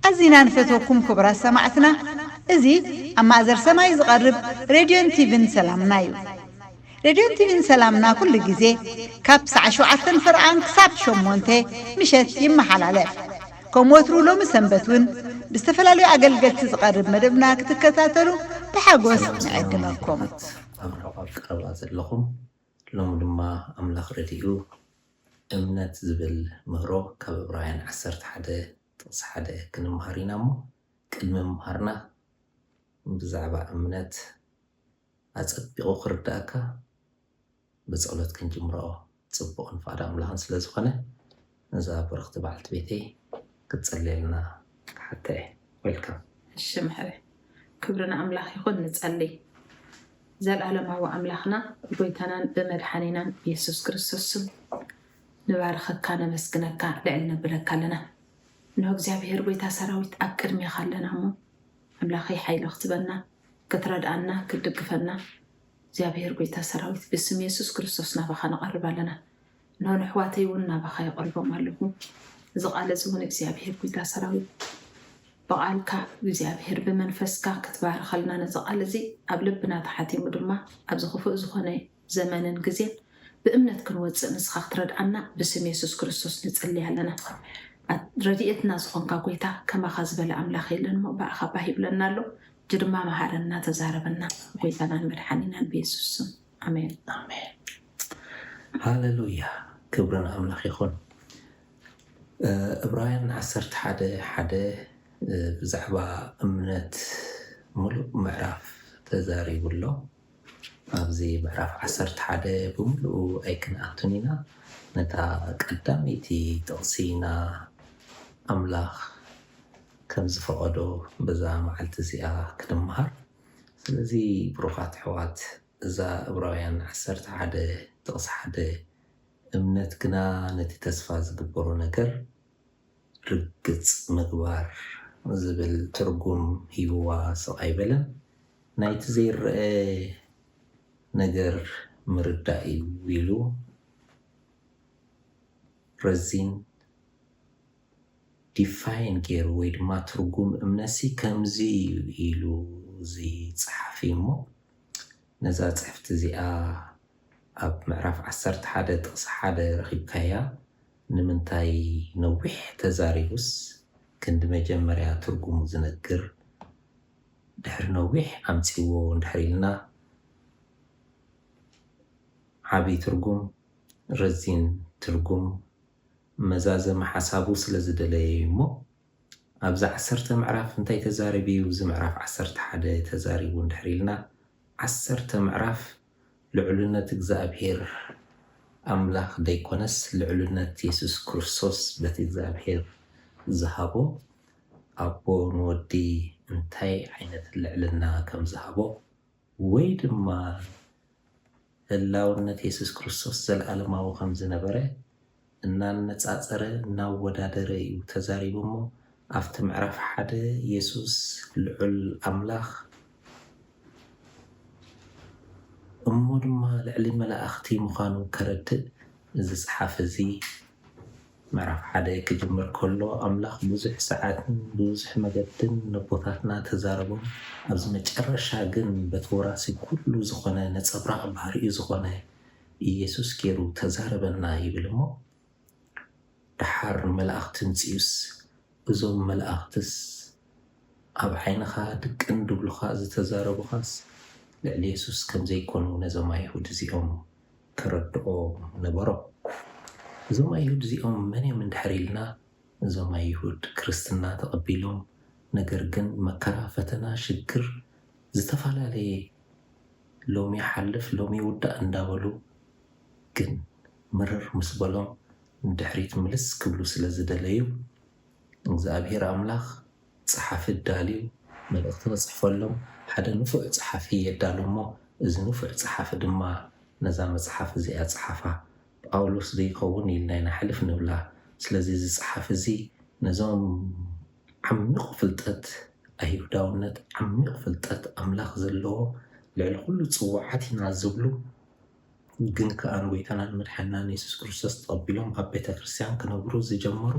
ኣዚና ንፈትወኩም ኩቡራት ሰማዕትና እዚ ኣብ ማእዘር ሰማይ ዝቀርብ ሬድዮን ቲቪን ሰላምና ዩ ሬድዮን ቲቪን ሰላምና ኩሉ ግዜ ካብ ሳዕ ሽውዓተን ፍርቓን ክሳብ ሸሞንተ ምሸት ይመሓላለፍ ከም ወትሩ ሎሚ ሰንበት ውን ብዝተፈላለዩ ኣገልገልቲ ዝቐርብ መደብና ክትከታተሉ ብሓጎስ ንዕድመኩም። ኣብ ርሑቕ ቀረባ ዘለኹም ሎሚ ድማ ኣምላኽ ረዲኡ እምነት ዝብል ምህሮ ካብ ዕብራውያን ዓሰርተ ሓደ ጥቕሲ ሓደ ክንመሃር ኢና እሞ ቅድሚ ምምሃርና ብዛዕባ እምነት ኣጸቢቑ ክርድኣካ ብጸሎት ክንጅምሮ ጽቡቕን ፍቓድ ኣምላኽን ስለ ዝኾነ ነዛ ብርኽቲ በዓልቲ ቤተይ ክትጽልየልና ክሓታ እየ። Welcome። እሺ መሕሪ ክብሪ ንኣምላኽ ይኹን ንጸልይ ዘልኣለማዊ ኣምላኽና ብጎይታናን ብመድሓኒናን የሱስ ክርስቶስ ስም ንባርኸካ ነመስግነካ ልዕል ነብለካ ኣለና እንሆ እግዚኣብሄር ጎይታ ሰራዊት ኣብ ቅድሜኻ ኣለና እሞ ኣምላኸይ ሓይሊ ክትበና ክትረድኣና ክትድግፈና እግዚኣብሔር ጎይታ ሰራዊት ብስም የሱስ ክርስቶስ ናባካ ንቀርብ ኣለና እንሆ ነሕዋተይ እውን ናባካ የቅርቦም ኣለኩ እዚ ቃል እዚ እውን እግዚኣብሔር ጎይታ ሰራዊት ብቃልካ እግዚኣብሔር ብመንፈስካ ክትባርኸልና ነዚ ቃል እዚ ኣብ ልብና ተሓቲሙ ድማ ኣብዚ ክፉእ ዝኮነ ዘመንን ግዜን ብእምነት ክንወፅእ ንስኻ ክትረድዓና ብስም የሱስ ክርስቶስ ንፅልይ ኣለና ረድኤትና ዝኾንካ ጎይታ ከማኻ ዝበለ ኣምላኽ የለን እሞ ብኣኻ ባህ ይብለና ኣሎ ሕጂ ድማ መሃረና ተዛረበና ብጎይታናን መድሓኒናን ብየሱስ ስም ኣሜን። ኣሜን ሃለሉያ ክብሪ ንኣምላኽ ይኹን። እብራውያን ዓሰርተ ሓደ ሓደ ብዛዕባ እምነት ምሉእ ምዕራፍ ተዛሪቡ ኣሎ። ኣብዚ ምዕራፍ ዓሰርተ ሓደ ብምሉኡ ኣይክንኣቱን ኢና፣ ነታ ቀዳመይቲ ጥቕሲ ኢና ኣምላኽ ከም ዝፈቐዶ በዛ መዓልቲ እዚኣ ክንመሃር። ስለዚ ብሩኻት ኣሕዋት እዛ ዕብራውያን ዓሰርተ ሓደ ጥቕሲ ሓደ እምነት ግና ነቲ ተስፋ ዝግበሮ ነገር፣ ርግጽ ምግባር ዝብል ትርጉም ሂብዋ ስቕ ኣይበለን። ናይቲ ዘይረኣ ነገር ምርዳእ'ዩ ኢሉ ረዚን። ዲፋይን ገይሩ ወይ ድማ ትርጉም እምነትሲ ከምዚ'ዩ ኢሉ እዚ ጸሓፊ'ሞ፣ ነዛ ጽሕፍቲ እዚኣ ኣብ ምዕራፍ ዓሰርተ ሓደ ጥቕሲ ሓደ ረኺብካያ ንምንታይ ነዊሕ ተዛሪቡስ ክንዲ መጀመርያ ትርጉሙ ዝነግር ድሕሪ ነዊሕ ኣምጺዎ እንድሕር ኢልና ዓቢ ትርጉም ረዚን ትርጉም መዛዘሚ ሓሳቡ ስለ ዝደለየዩ'ሞ ኣብዚ ዓሰርተ ምዕራፍ እንታይ ተዛሪቡ እዩ እዚ ምዕራፍ ዓሰርተ ሓደ ተዛሪቡ እንድሕር ኢልና ዓሰርተ ምዕራፍ ልዑልነት እግዝኣብሄር ኣምላኽ ደይኮነስ ልዑልነት የሱስ ክርስቶስ በቲ እግዝኣብሄር ዝሃቦ ኣቦ ንወዲ እንታይ ዓይነት ልዕልና ከም ዝሃቦ ወይ ድማ ህላውነት የሱስ ክርስቶስ ዘለኣለማዊ ከም ዝነበረ እናነጻጸረ እናወዳደረ እዩ ተዛሪቡ እሞ ኣብቲ ምዕራፍ ሓደ የሱስ ልዑል ኣምላኽ እሞ ድማ ልዕሊ መላእኽቲ ምዃኑ ከረድእ እዚ ጸሓፊ እዚ ምዕራፍ ሓደ ክጅምር ከሎ ኣምላኽ ብዙሕ ሰዓትን ብብዙሕ መገድን ነቦታትና ተዛረቦም ኣብዚ መጨረሻ ግን በቲ ወራሲ ኩሉ ዝኾነ ነጸብራቕ ባህሪኡ ዝኾነ ኢየሱስ ጌሩ ተዛረበና ይብል እሞ ደሓር መላእኽቲ ምጺኡስ እዞም መላእኽትስ ኣብ ዓይንኻ ድቅን ድብሉኻ ዝተዛረቡኻስ ልዕሊ የሱስ ከምዘይኮኑ ነዞም ኣይሁድ እዚኦም ተረድኦ ነበሮ። እዞም ኣይሁድ እዚኦም መን እዮም እንድሕር ኢልና እዞም ኣይሁድ ክርስትና ተቀቢሎም ነገር ግን መከራ ፈተና ሽግር ዝተፋላለየ ሎሚ ይሓልፍ ሎሚ ይውዳእ እንዳበሉ ግን ምርር ምስ በሎም ንድሕሪት ምልስ ክብሉ ስለ ዝደለዩ እግዝኣብሄር ኣምላኽ ጸሓፊ ኣዳልዩ መልእኽቲ ክጽሕፈሎም ሓደ ንፉዕ ጸሓፊ የዳሉ እሞ፣ እዚ ንፉዕ ጸሓፊ ድማ ነዛ መጽሓፍ እዚኣ ጸሓፋ። ጳውሎስ ዘይከውን ኢልና ኢና ሕልፍ ንብላ። ስለዚ እዚ ጸሓፊ እዚ ነዞም ዓሚቝ ፍልጠት ኣይሁዳውነት፣ ዓሚቝ ፍልጠት ኣምላኽ ዘለዎም፣ ልዕሊ ዅሉ ጽዉዓት ኢና ዝብሉ ግን ከኣ ንጐይታናን መድሓኒናን የሱስ ክርስቶስ ተቐቢሎም ኣብ ቤተ ክርስትያን ክነብሩ ዝጀመሩ፣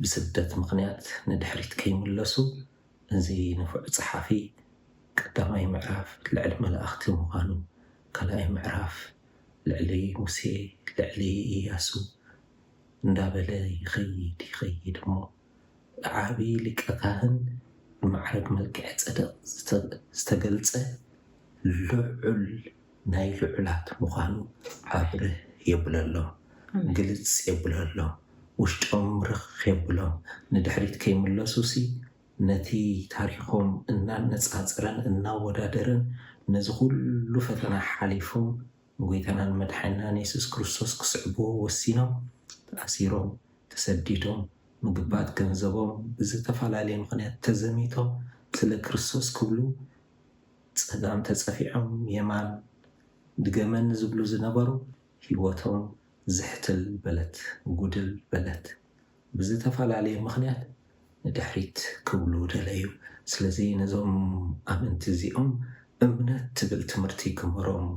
ብስደት ምኽንያት ንድሕሪት ከይምለሱ እዚ ንፉዕ ጸሓፊ ቀዳማይ ምዕራፍ ልዕሊ መላእኽቲ ምዃኑ ካልኣይ ምዕራፍ ልዕሊ ሙሴ ልዕሊ ኢያሱ እንዳበለ ይኸይድ ይኸይድ እሞ ብዓቢ ሊቀ ካህን ብማዕርግ መልክዔ ጸደቅ ዝተገልጸ ልዑል ናይ ልዑላት ምዃኑ ኣብርህ የብለሎ ግልጽ የብለሎ ውሽጦም ርኽ የብሎም ንድሕሪት ከይምለሱሲ ነቲ ታሪኾም እናነጻጸረን እናወዳደረን ነዚ ኩሉ ፈተና ሓሊፎም ንጎይታናን መድሓኒናን የሱስ ክርስቶስ ክስዕብዎ ወሲኖም ተኣሲሮም ተሰዲዶም ምግባት ገንዘቦም ብዝተፈላለየ ምኽንያት ተዘሚቶም ስለ ክርስቶስ ክብሉ ጸጋም ተጸፊዖም የማን ድገመኒ ዝብሉ ዝነበሩ ሂወቶም ዝሕትል በለት ጉድል በለት ብዝተፈላለየ ምኽንያት ንድሕሪት ክብሉ ደለዩ። ስለዚ ነዞም ኣመንቲ እዚኦም እምነት ትብል ትምህርቲ ክምህሮም።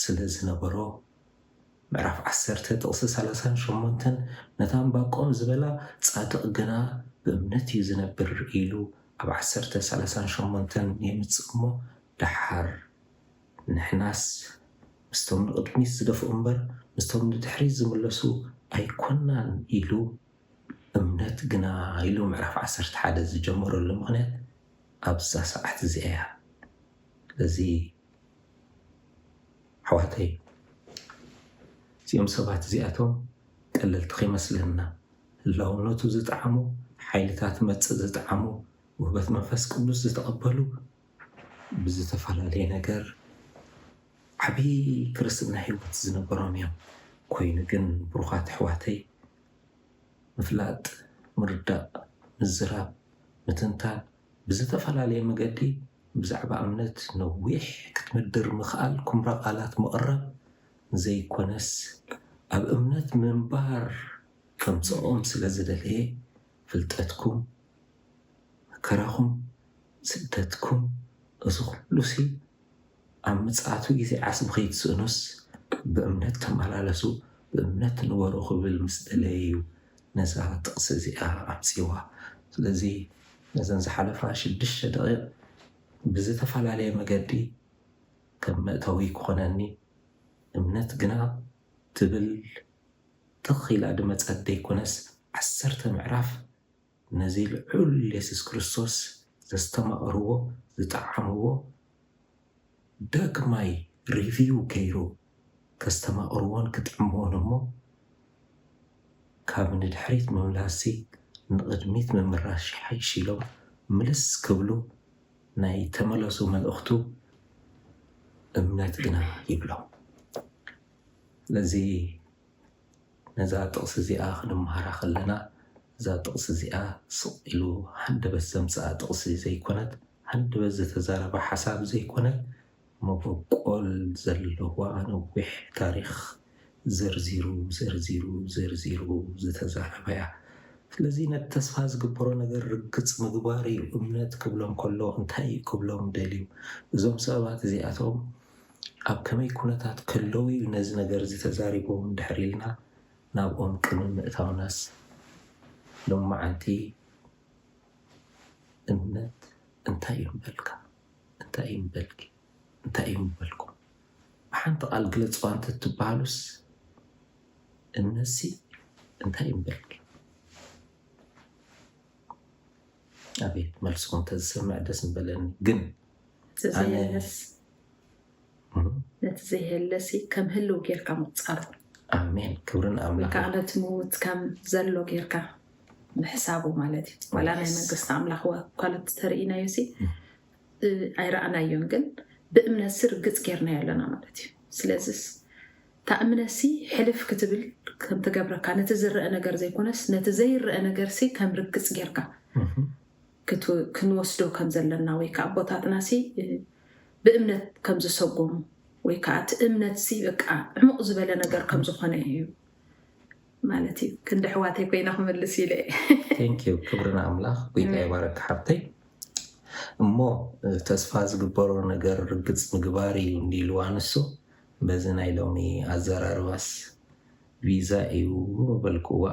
ስለ ዝነበሮ፣ ምዕራፍ ዓሰርተ ጥቕሲ ሰላሳን ሸሞንተን ነታ እምባቆም ዝበላ ጻድቕ ግና ብእምነት እዩ ዝነብር ኢሉ ኣብ ዓሰርተ ሰላሳን ሸሞንተን የምጽእ እሞ ደሓር ንሕናስ ምስቶም ንቕድሚት ዝደፍኡ እምበር ምስቶም ንድሕሪት ዝምለሱ ኣይኮናን ኢሉ እምነት ግና ኢሉ ምዕራፍ ዓሰርተ ሓደ ዝጀመረሉ ምኽንያት ኣብዛ ሰዓት እዚኣ እያ ስለዚ ኣሕዋተይ እዚኦም ሰባት እዚኣቶም ቀለልቲ ከይመስለና ህላውነቱ ዝጠዓሙ ሓይልታት መጽእ ዝጠዓሙ ውህበት መንፈስ ቅዱስ ዝተቐበሉ ብዝተፈላለየ ነገር ዓብይ ክርስትና ህይወት ዝነበሮም እዮም። ኮይኑ ግን ብሩኻት ኣሕዋተይ ምፍላጥ፣ ምርዳእ፣ ምዝራብ፣ ምትንታን ብዝተፈላለየ መገዲ ብዛዕባ እምነት ነዊሕ ክትምድር ምኽኣል ኩምራ ቃላት ምቕራብ ዘይኮነስ ኣብ እምነት ምንባር ከምጽኦም ስለ ዝደለየ ፍልጠትኩም መከራኹም ስደትኩም እዚ ኩሉሲ ኣብ ምጽኣቱ ግዜ ዓስቢ ከይትስእኑስ ብእምነት ተመላለሱ፣ ብእምነት ንበሩ ክብል ምስ ደለየ እዩ ነዛ ጥቕሲ እዚኣ ኣምጺእዋ። ስለዚ ነዘን ዝሓለፋ ሽዱሽተ ደቒቕ ብዝተፈላለየ መገዲ ከም መእተዊ ክኾነኒ እምነት ግና ትብል ትኽ ኢላ ድመጸት ደይኮነስ ዓሰርተ ምዕራፍ ነዚ ልዑል የሱስ ክርስቶስ ዘስተማቐርዎ ዝጠዓምዎ ዳግማይ ሪቪው ገይሩ ከስተማቕርዎን ክጥዕምዎን እሞ ካብ ንድሕሪት ምምላስሲ ንቕድሚት ምምራሽ ይሓይሽ ኢሎም ምልስ ክብሉ ናይ ተመለሱ መልእኽቱ እምነት ግና ይብሎም። ስለዚ ነዛ ጥቕሲ እዚኣ ክንመሃራ ከለና፣ እዛ ጥቕሲ እዚኣ ስቕ ኢሉ ሃንደበት ዘምጽኣ ጥቕሲ ዘይኮነት፣ ሃንደበት ዝተዛረባ ሓሳብ ዘይኮነ፣ መበቆል ዘለዋ ነዊሕ ታሪኽ ዘርዚሩ ዘርዚሩ ዘርዚሩ ዝተዛረባ'ያ። ስለዚ ነቲ ተስፋ ዝግበሮ ነገር ርግጽ ምግባር'ዩ እምነት ክብሎም ከሎ እንታይ'ዩ ክብሎም ደልዩ? እዞም ሰባት እዚኣቶም ኣብ ከመይ ኩነታት ከለዉ'ዩ ነዚ ነገር'ዚ ተዛሪቦም ድሕር ኢልና ናብኦም ቅድሚ ምእታውናስ ሎምዓንቲ እምነት እንታይ'ዩ ምበልካ? እንታይ'ዩ ምበልኪ? እንታይ'ዩ ምበልኩም? ብሓንቲ ቃል ግለጽዋ እንተትብሃሉስ እምነት'ሲ እንታይ'ዩ ምበልኪ? ኣቤት መልስኩም ተዝሰምዕ ደስ ምበለኒ ግን ነቲ ዘይህለሲ ከም ህልው ጌርካ ምቁፃር ኣሜን ክብሪ ንኣምላክ ከዓ ነቲ ምውት ከም ዘሎ ጌርካ ምሕሳቡ ማለት እዩ ዋላ ናይ መንግስቲ ኣምላክ ኳለት ተርእናዮ ሲ ኣይረኣናዮን ግን ብእምነት ሲ ርግፅ ጌርናዮ ኣለና ማለት እዩ ስለዚ ታእምነሲ ሕልፍ ክትብል ከምትገብረካ ነቲ ዝረአ ነገር ዘይኮነስ ነቲ ዘይረአ ነገር ሲ ከም ርግፅ ጌርካ ክንወስዶ ከም ዘለና ወይ ከኣ ኣቦታትናሲ ብእምነት ከም ዝሰጎሙ ወይ ከኣ እቲ እምነትሲ በቃ ዕሙቕ ዝበለ ነገር ከም ዝኾነ እዩ ማለት እዩ ክንዲ ኣሕዋተይ ኮይነ ክምልስ ኢለ ቴንኪዩ ክብሪ ንኣምላኽ ጎይታ ይባረክ ሓብተይ እሞ ተስፋ ዝግበሮ ነገር ርግፅ ምግባር እዩ እንዲልዋ ንሱ በዚ ናይ ሎሚ ኣዘራርባስ ቪዛ እዩ በልክዋ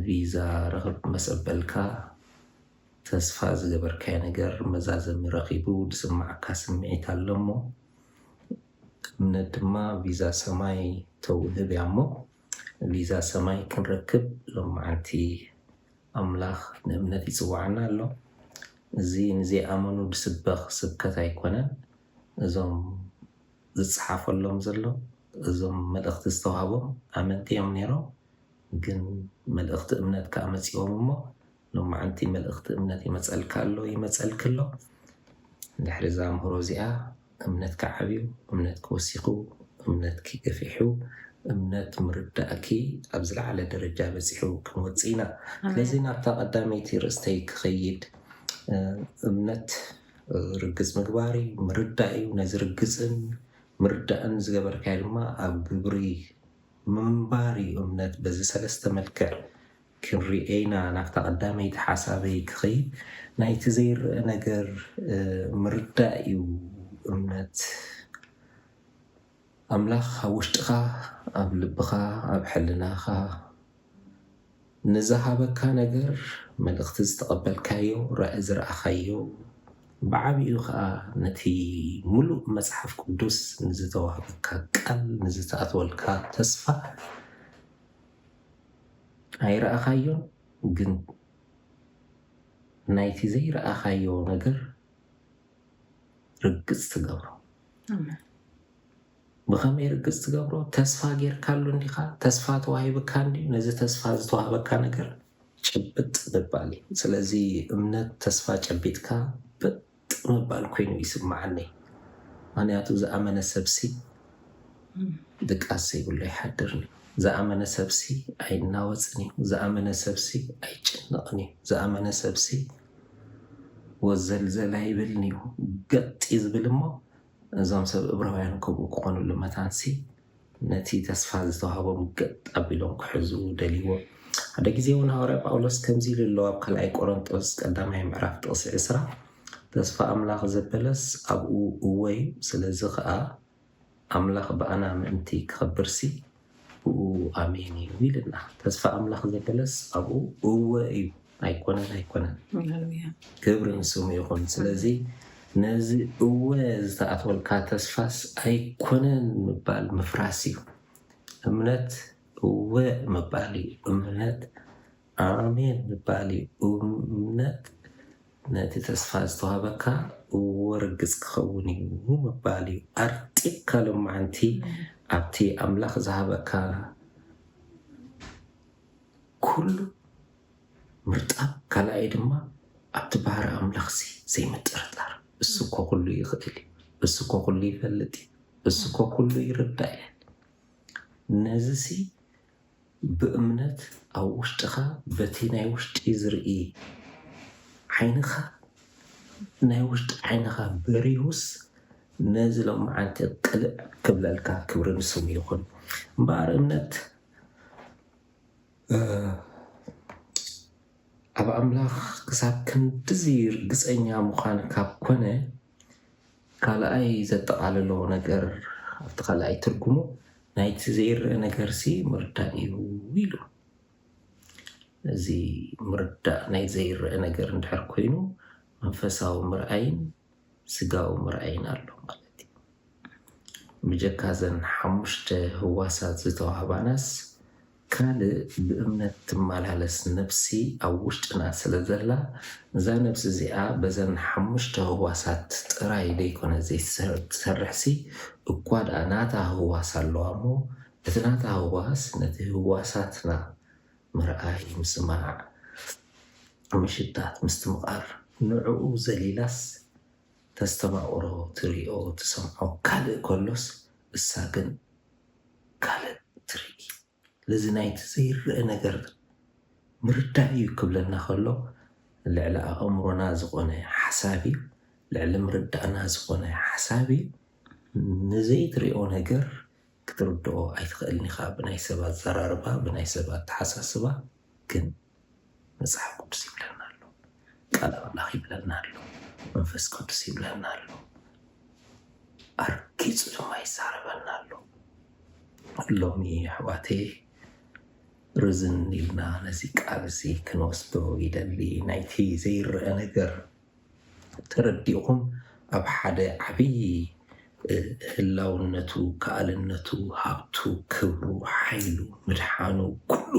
ቪዛ ረኽብ መሰበልካ ተስፋ ዝገበርካዮ ነገር መዛዘሚ ረኺቡ ድስማዓካ ስሚዒት ኣሎ እሞ እምነት ድማ ቪዛ ሰማይ ተውህብ እያ እሞ ቪዛ ሰማይ ክንረክብ ሎማዓንቲ ኣምላኽ ንእምነት ይጽዋዓና ኣሎ እዚ ንዘይኣመኑ ድስበኽ ስብከት ኣይኮነን እዞም ዝጽሓፈሎም ዘሎ እዞም መልእኽቲ ዝተዋህቦም ኣመንቲ እዮም ኔሮም ግን መልእኽቲ እምነት ከኣ መጺኦም እሞ ሎማዕንቲ መልእኽቲ እምነት ይመጸልካ ኣሎ ይመጸልኪ ኣሎ ድሕሪ እዛ ምህሮ እዚኣ እምነትኪ ዓብዩ እምነትኪ ወሲኹ እምነትኪ ገፊሑ እምነት ምርዳእኪ ኣብ ዝለዓለ ደረጃ በጺሑ ክንወጽእ ኢና ስለዚ ናብታ ቀዳመይቲ ርእስተይ ክኸይድ እምነት ርግጽ ምግባር እዩ ምርዳእ እዩ ነዚ ርግጽን ምርዳእን ዝገበርካዮ ድማ ኣብ ግብሪ ምንባር'ዩ እምነት በዚ ሰለስተ መልክዕ ክንርኤኢና ናብታ ቀዳመይቲ ሓሳበይ ክኸይድ ናይቲ ዘይረኣ ነገር ምርዳእ'ዩ እምነት ኣምላኽ ኣብ ውሽጥኻ ኣብ ልብኻ ኣብ ሕልናኻ ንዝሃበካ ነገር መልእኽቲ ዝተቐበልካዮ ራኢ ዝረኣኻዮ ብዓቢኡ ከኣ ነቲ ምሉእ መጽሓፍ ቅዱስ ንዝተዋህበካ ቃል ንዝተኣትወልካ ተስፋ ኣይረኣኻዮን ግን ናይቲ ዘይረኣኻዮ ነገር ርግጽ ትገብሮ። ብኸመይ ርግጽ ትገብሮ? ተስፋ ጌርካሉ እንዲኻ? ተስፋ ተዋሂብካ እንድዩ። ነዚ ተስፋ ዝተዋህበካ ነገር ጭብጥ ምባል እዩ። ስለዚ እምነት ተስፋ ጨቢጥካ በጥ ምባል ኮይኑ ይስምዓኒ። ምኽንያቱ ዝኣመነ ሰብሲ ድቃስ ዘይብሉ ኣይሓድርን እዩ። ዝኣመነ ሰብሲ ኣይናወጽን እዩ። ዝኣመነ ሰብሲ ኣይጭነቕን እዩ። ዝኣመነ ሰብሲ ወዘልዘል ኣይብልን እዩ። ገጥ እዩ ዝብል እሞ እዞም ሰብ እብራውያን ከምኡ ክኾኑሉ መታንሲ ነቲ ተስፋ ዝተዋህቦም ገጥ ኣቢሎም ክሕዙ ደልይዎ። ሓደ ግዜ እውን ሃዋርያ ጳውሎስ ከምዚ ኢሉ ኣሎ ኣብ ካልኣይ ቆረንጦስ ቀዳማይ ምዕራፍ ጥቕሲ ዕስራ ተስፋ ኣምላኽ ዘበለስ ኣብኡ እወ እዩ ስለዚ ኸኣ ኣምላኽ ብኣና ምእንቲ ክኸብርሲ ኣብኡ ኣሜን እዩ ኢልና ተስፋ ኣምላኽ ዘበለስ ኣብኡ እወ እዩ ኣይኮነን ኣይኮነን ሃሌሉያ ክብሪ ንስሙ ይኹን ስለዚ ነዚ እወ ዝተኣትወልካ ተስፋስ ኣይኮነን ምባል ምፍራስ እዩ እምነት እወ ምባል እዩ እምነት ኣሜን ምባል እዩ እምነት ነቲ ተስፋ ዝተዋህበካ እዎ ርግጽ ክኸውን እዩ ምባል እዩ ኣርጢብካ ሎማዓንቲ ኣብቲ ኣምላኽ ዝሃበካ ኩሉ ምርጣብ ካላኣይ ድማ ኣብቲ ባህሪ ኣምላኽሲ ዘይምጥርጣር እሱ እኮ ኩሉ ይኽእል እዩ እሱ እኮ ኩሉ ይፈልጥ እዩ እሱ እኮ ኩሉ ይርዳእ እዩ ነዚሲ ብእምነት ኣብ ውሽጥኻ በቲ ናይ ውሽጢ ዝርኢ ዓይንኻ ናይ ውሽጢ ዓይንኻ በሪሁስ ነዚ ሎምዓንቲ ቅልዕ ክብለልካ ክብሪ ንስሙ ይኹን እምበኣር እምነት ኣብ ኣምላኽ ክሳብ ክንድዚ ርግጸኛ ምዃን ካብ ኮነ ካልኣይ ዘጠቓልሎ ነገር ኣብቲ ካልኣይ ትርጉሙ ናይቲ ዘይረኣ ነገርሲ ምርዳእ እዩ ኢሉ። እዚ ምርዳእ ናይ ዘይረኣ ነገር እንድሕር ኮይኑ መንፈሳዊ ምርኣይን ስጋዊ ምርኣይን ኣሎ ማለት እዩ። ብጀካ እዘን ሓሙሽተ ህዋሳት ዝተዋህባናስ ካልእ ብእምነት ትመላለስ ነፍሲ ኣብ ውሽጥና ስለ ዘላ፣ እዛ ነፍሲ እዚኣ በዘን ሓሙሽተ ህዋሳት ጥራይ ዘይኮነ ዘይትሰርሕሲ፣ እኳ ደኣ ናታ ህዋስ ኣለዋ እሞ፣ እቲ ናታ ህዋስ ነቲ ህዋሳትና ምርኣይ፣ ምስማዕ፣ ምሽታት፣ ምስትምቓር ንዕኡ ዘሊላስ ተስተማቕሮ፣ ትሪኦ፣ ትሰምዖ ካልእ ከሎስ እሳ ግን ካልእ ትርኢት ነዚ ናይቲ ዘይርኣ ነገር ምርዳእ እዩ ክብለና ከሎ ልዕሊ ኣእምሮና ዝኾነ ሓሳብ እዩ፣ ልዕሊ ምርዳእና ዝኾነ ሓሳብ እዩ። ንዘይትሪኦ ነገር ክትርድኦ ኣይትኽእልን ኢኻ ብናይ ሰብ ኣዘራርባ ብናይ ሰብ ኣተሓሳስባ ግን መጽሓፍ ቅዱስ ይብለና ኣሎ ቃል ኣምላኽ ይብለና ኣሎ መንፈስ ቅዱስ ይብለና ኣሎ ኣርጊጹ ድማ ይዛረበና ኣሎ ሎሚ ኣሕዋተይ ርዝን ኢልና ነዚ ቃል እዚ ክንወስዶ ይደሊ ናይቲ ዘይረአ ነገር ተረዲእኹም ኣብ ሓደ ዓብዪ እ፣ ህላውነቱ ከኣልነቱ ሃብቱ ክብሩ ሓይሉ ምድሓኑ ኩሉ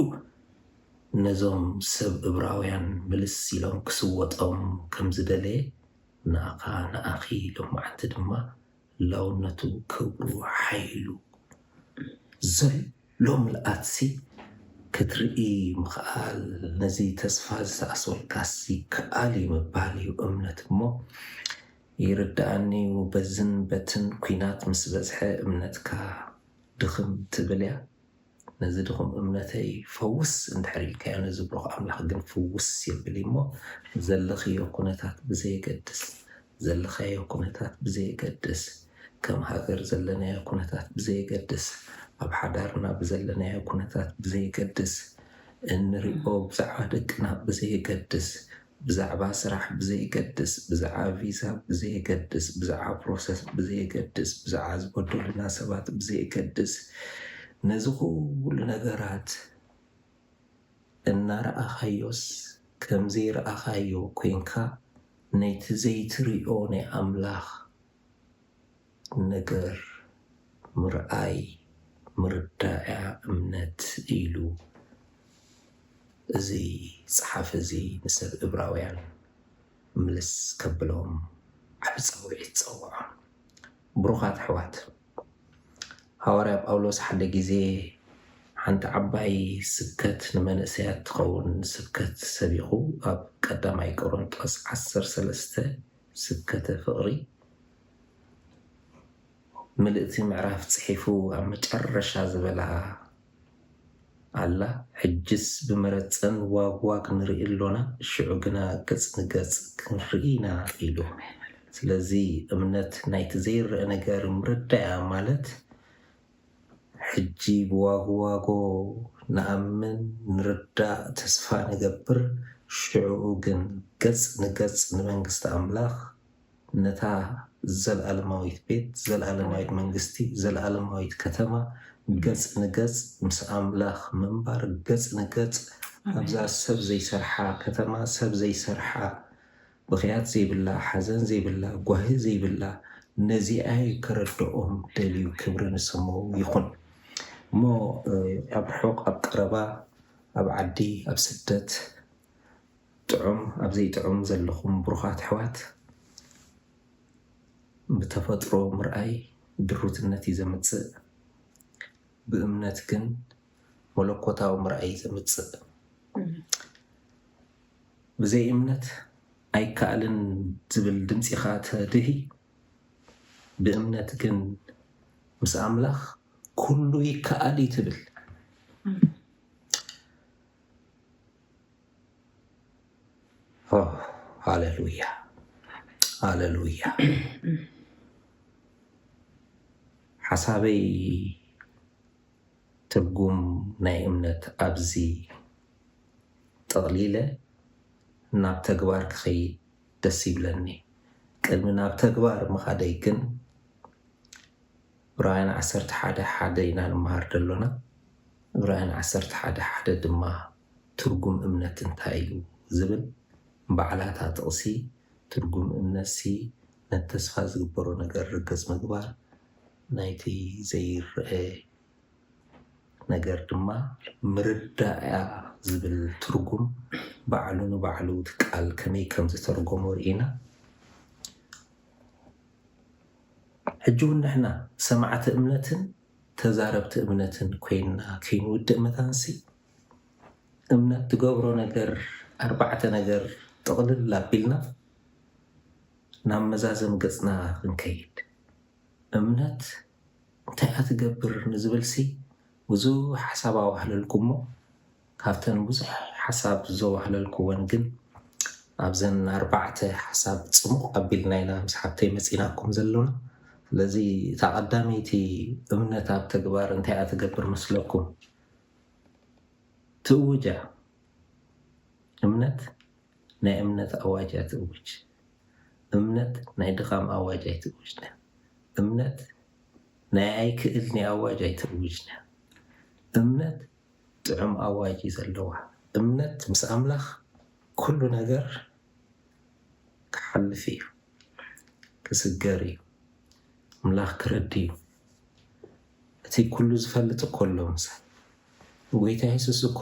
ነዞም ሰብ እብራውያን ምልስ ኢሎም ክስወጦም ከም ዝደለየ ንኣኻ ንኣኺ ሎማዓንቲ ድማ ላውነቱ ክብሩ ሓይሉ ዘሎ ምልኣትሲ ክትርኢ ምኽኣል ነዚ ተስፋ ዝሰኣስወልካስ ይከኣል እዩ ምባል እዩ እምነት እሞ ይርደኣኒዩ በዝን በትን ኩናት ምስ በዝሐ እምነትካ ድኽም ትብልያ ነዚ ድኹም እምነተይ ፈውስ እንድሕር ኢልካዮ ነዚ ብሩኽ ኣምላኽ ግን ፍውስ የብል እዩሞ ዘለኽዮ ኩነታት ብዘየገድስ ዘለኻዮ ኩነታት ብዘየገድስ ከም ሃገር ዘለናዮ ኩነታት ብዘየገድስ ኣብ ሓዳርና ብዘለናዮ ኩነታት ብዘየገድስ እንሪኦ ብዛዕባ ደቅና ብዘየገድስ ብዛዕባ ስራሕ ብዘይገድስ፣ ብዝዓ ቪዛ ብዘየገድስ፣ ብዝዓ ፕሮሰስ ብዘየገድስ፣ ብዝዓ ዝበደሉና ሰባት ብዘየገድስ ነዚ ኩሉ ነገራት እናረኣኻዮስ ከም ዘይረኣኻዮ ኮይንካ ነቲ ዘይትሪኦ ናይ ኣምላኽ ነገር ምርኣይ ምርዳእያ እምነት ኢሉ እዚ ጸሓፊ እዚ ንሰብ እብራውያን ምልስ ከብሎም ዓቢ ጻውዒት ጸውዖም። ብሩኻት ኣሕዋት ሃዋርያ ጳውሎስ ሓደ ግዜ ሓንቲ ዓባይ ስብከት ንመንእሰያት ትኸውን ስብከት ሰቢኹ ኣብ ቀዳማይ ቆሮንጦስ ዓሰርተ ሰለስተ ስብከተ ፍቕሪ ምልእቲ ምዕራፍ ጽሒፉ ኣብ መጨረሻ ዝበላ ኣላ ሕጅስ ብመረጸን ዋግ ዋግ ንርኢ ኣሎና ሽዑ ግና ገጽ ንገጽ ክንርኢ ኢና ኢሉ ስለዚ እምነት ናይቲ ዘይረኣ ነገር ምርዳእያ ማለት ሕጂ ብዋግዋጎ ንኣምን ንርዳእ ተስፋ ንገብር ሽዑኡ ግን ገጽ ንገጽ ንመንግስቲ ኣምላኽ ነታ ዘልኣለማዊት ቤት ዘልኣለማዊት መንግስቲ ዘልኣለማዊት ከተማ ገጽ ንገጽ ምስ ኣምላኽ ምንባር ገጽ ንገጽ ኣብዛ ሰብ ዘይሰርሓ ከተማ ሰብ ዘይሰርሓ ብኽያት ዘይብላ ሓዘን ዘይብላ ጓሂ ዘይብላ ነዚኣይ ከረድኦም ደልዩ ክብሪ ንስሙ ይኹን እሞ ኣብ ርሑቕ ኣብ ቀረባ ኣብ ዓዲ ኣብ ስደት ጥዑም ኣብ ዘይጥዑም ዘለኹም ብሩኻት ኣሕዋት ብተፈጥሮ ምርኣይ ድሩትነት እዩ ዘምጽእ ብእምነት ግን መለኮታዊ ምርኣይ እዩ ዘምጽእ ብዘይ እምነት ኣይከኣልን ዝብል ድምጺኻ ተድሂ ብእምነት ግን ምስ ኣምላኽ ኩሉ ይከኣል እዩ ትብል። ሃሌሉያ ሃሌሉያ። ሓሳበይ ትርጉም ናይ እምነት ኣብዚ ጠቕሊለ ናብ ተግባር ክኸይድ ደስ ይብለኒ። ቅድሚ ናብ ተግባር ምኻደይ ግን ዕብራውያን ዓሰርተ ሓደ ሓደ ኢና ንመሃር ዘሎና። ዕብራውያን ዓሰርተ ሓደ ሓደ ድማ ትርጉም እምነት እንታይ እዩ ዝብል ባዕላ እታ ጥቕሲ ትርጉም እምነትሲ ነቲ ተስፋ ዝግበሮ ነገር ርግጽ ምግባር ናይቲ ዘይረኣ ነገር ድማ ምርዳእ'ያ ዝብል ትርጉም ባዕሉ ንባዕሉ እቲ ቃል ከመይ ከም ዝተርጎሞ ርኢና ሕጂ ውን ንሕና ሰማዕቲ እምነትን ተዛረብቲ እምነትን ኮይንና ከይንውድእ መታን'ሲ እምነት ትገብሮ ነገር ኣርባዕተ ነገር ጥቕልል ኣቢልና ናብ መዛዘሚ ገጽና ክንከይድ እምነት እንታይ'ያ ትገብር ንዝብልሲ ብዙሕ ሓሳብ ኣዋህለልኩ'ሞ ካብተን ብዙሕ ሓሳብ ዘዋህለልኩወን ግን ኣብዘን ኣርባዕተ ሓሳብ ጽሙቕ ኣቢልና ኢና ምስ ሓብተይ መጺእናኩም ዘሎና። ስለዚ እታ ቀዳመይቲ እምነት ኣብ ተግባር እንታይ'ያ ትገብር መስለኩም? ትእውጅ'ያ እምነት። ናይ እምነት ኣዋጅ ኣይትእውጅ። እምነት ናይ ድኻም ኣዋጅ ኣይትእውጅ። እምነት ናይ ኣይክእልን'የ ኣዋጅ ኣይትእውጅ። እምነት ጥዑም ኣዋጅ እዩ ዘለዋ። እምነት ምስ ኣምላኽ ኩሉ ነገር ክሓልፍ እዩ። ክስገር እዩ። ኣምላኽ ክረዲ እዩ። እቲ ኩሉ ዝፈልጥ እኮ ኣሎ ምሳይ። ጎይታ የሱስ እኮ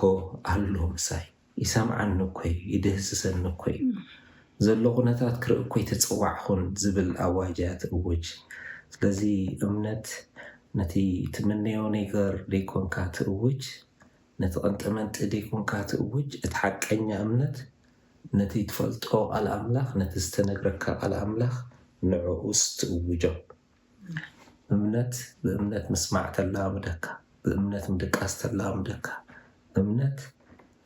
ኣሎ ምሳይ። ይሰምዓኒ እኮዩ ይድህስሰኒ እኮዩ ዘሎ ኩነታት ክርኢ እኮይ ተጸዋዕኩን ዝብል ኣዋጅ እያ ትእውጅ ስለዚ እምነት ነቲ ትምነዮ ነይገር ደይኮንካ ትእውጅ ነቲ ቀንጠመንጢ ደይኮንካ ትእውጅ እቲ ሓቀኛ እምነት ነቲ ትፈልጦ ቃል ኣምላኽ ነቲ ዝተነግረካ ቃል ኣምላኽ ንዕኡስ ትእውጆ እምነት ብእምነት ምስማዕ ተለማምደካ፣ ብእምነት ምድቃስ ተለማምደካ፣ እምነት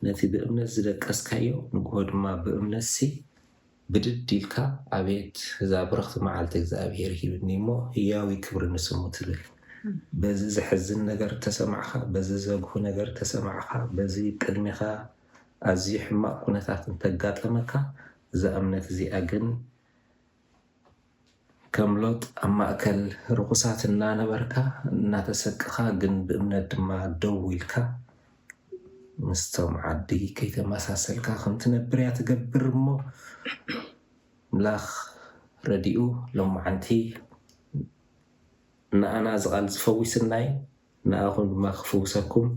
ነቲ ብእምነት ዝደቀስካዮ ንግሆ ድማ ብእምነትሲ ብድድ ኢልካ ኣቤት እዛ ብርኽቲ መዓልቲ እግዚኣብሄር ሂብኒ'ሞ ህያው'ዩ ክብሪ ንስሙ ትብል። በዚ ዘሕዝን ነገር ተሰማዕካ፣ በዚ ዘግሁ ነገር ተሰማዕካ፣ በዚ ቅድሜኻ ኣዝዩ ሕማቕ ኩነታት እንተጋጠመካ እዛ እምነት እዚኣ ግን ከም ሎጥ ኣብ ማእከል ርኹሳት እናነበርካ እናተሰቅኻ ግን ብእምነት ድማ ደው ኢልካ ምስቶም ዓዲ ከይተመሳሰልካ ከም ትነብር እያ ትገብር እሞ ኣምላኽ ረዲኡ ሎማዓንቲ ንኣና ዝቓል ዝፈዊስና እዩ። ንኣኹም ድማ ክፍውሰኩም